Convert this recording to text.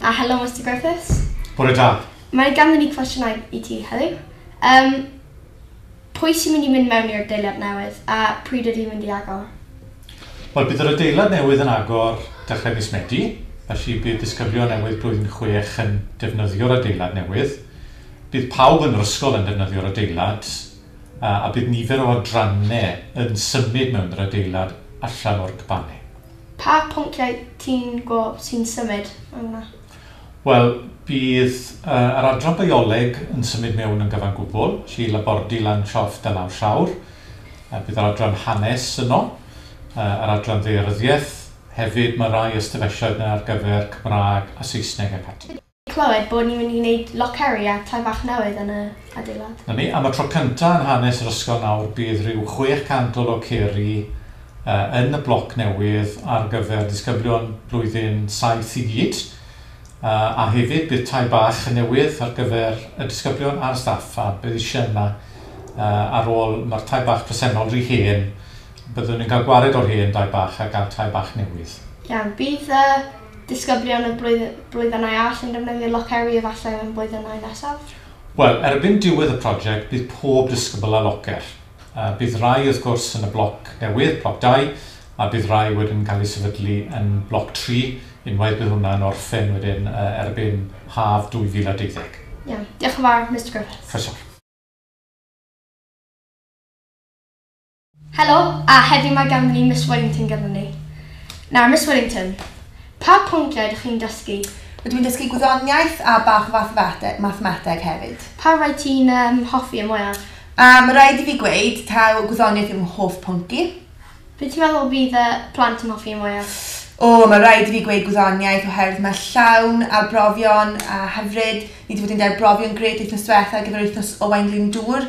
A helo, Mr Griffiths. Bore da. Mae ganddyn ni cwestiynau i ti heddiw. Um, pwy sy'n mynd i mynd mewn i'r deiliad newydd a pryd ydy'n mynd i agor? Wel, bydd yr adeilad newydd yn agor dechrau mis Medi, felly bydd disgyblion newydd blwyddyn chwech yn defnyddio'r adeilad newydd. Bydd pawb yn yr ysgol yn defnyddio'r adeilad, a bydd nifer o adrannau yn symud mewn yr adeilad allan o'r cbanne. Pa phonciau ti'n gweld sy'n symud mewn yna? Wel, bydd yr adran bioleg yn symud mewn yn gyfan gwbl, felly labordy Lanshoft a Lawr Llawr. Bydd yr adran hanes yno, yr adran ddaearyddiaeth, hefyd mae rhai ystafelloedd yna ar gyfer Cymraeg a Saesneg ac ati. clywed bod ni'n mynd i wneud loceri a tai bach newydd yn y adeilad. Na ni, am y tro cynta yn hanes yr ysgol nawr bydd rhyw 600 o loceri yn y bloc newydd ar gyfer disgyblion blwyddyn saith i gyd, a hefyd bydd tai bach newydd ar gyfer y disgyblion a'r staff a bydd eisiau yna ar ôl mae'r tai bach presennol rhy hen, byddwn yn cael gwared o'r hen dai bach a gael tai bach newydd. Iawn, bydd y Disgyblion y blwydd- blwyddynau all yn defnyddio Loceri efallai yn y blwyddynau nesaf? Wel, erbyn diwedd y project bydd pob disgybl â locer. Yy bydd rai wrth gwrs yn y bloc newydd, bloc dau, a bydd rai wedyn yn cael eu sefydlu yn bloc tri unwaith bydd hwnna'n orffen wedyn yy erbyn haf 2020. Iawn. Diolch yn fawr, Mister Griffiths. Croeso. Helo, a heddiw mae ganddyn ni Miss Wellington gyda ni. Nawr, Miss Wellington, pa pwnciau ydych chi'n dysgu? Rydw i'n dysgu gwyddoniaeth a bach o fathemateg, mathemateg hefyd. Pa rai ti'n um, hoffi y mwyaf? A mae rhaid i fi gweud, taw gwyddoniaeth yw fy hoff pwnc i. Be ti'n meddwl fydd y plant yn hoffi y mwyaf? O, mae rhaid i fi gweud gwyddoniaeth oherwydd mae llawn arbrofion a hyfryd. Ni wedi bod yn derbrofi yn gred wythnos diwetha ar gyfer wythnos Owain Glyndŵr